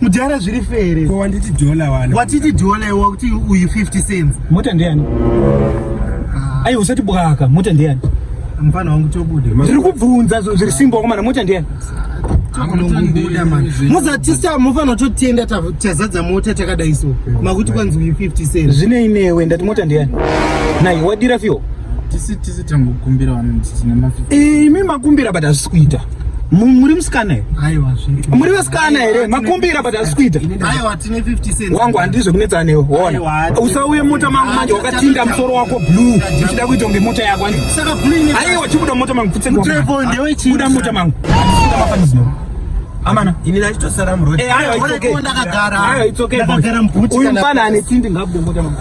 mudhara zviri fere ko wanditi dollar wani watiti dollar iwe wakuti uyu 50 cents mota ndeyani ah. ayi usati bwaka mota ndeyani mfana wangu tobude ndiri kubvunza zvo zviri simba wakomana mota ndeyani muzatisa mufana totenda tazadza mota takadai so makuti kwanzi uyu 50 cents zvinei newe ndati mota ndeyani nai wadira fio tisi tisi tangokumbira vanhu tine mafi imi makumbira but hazvisi kuita muri musikana here muri vasikana here makumbira but asi kuita wangu handii zvekunetsana newe hona usauye mota mangu manje wakatinda musoro wako blue uchida kuita kunge mota yako aiwa chibuda mota mangu putsenbuda mota mangu amana ini ndachitosara muroad eh, ayo it's okay ayo it's okay uyu mfana ane tsindi ngabude mota mangu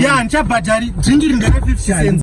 ya ndichabhadhari drink iri ndere 50 cents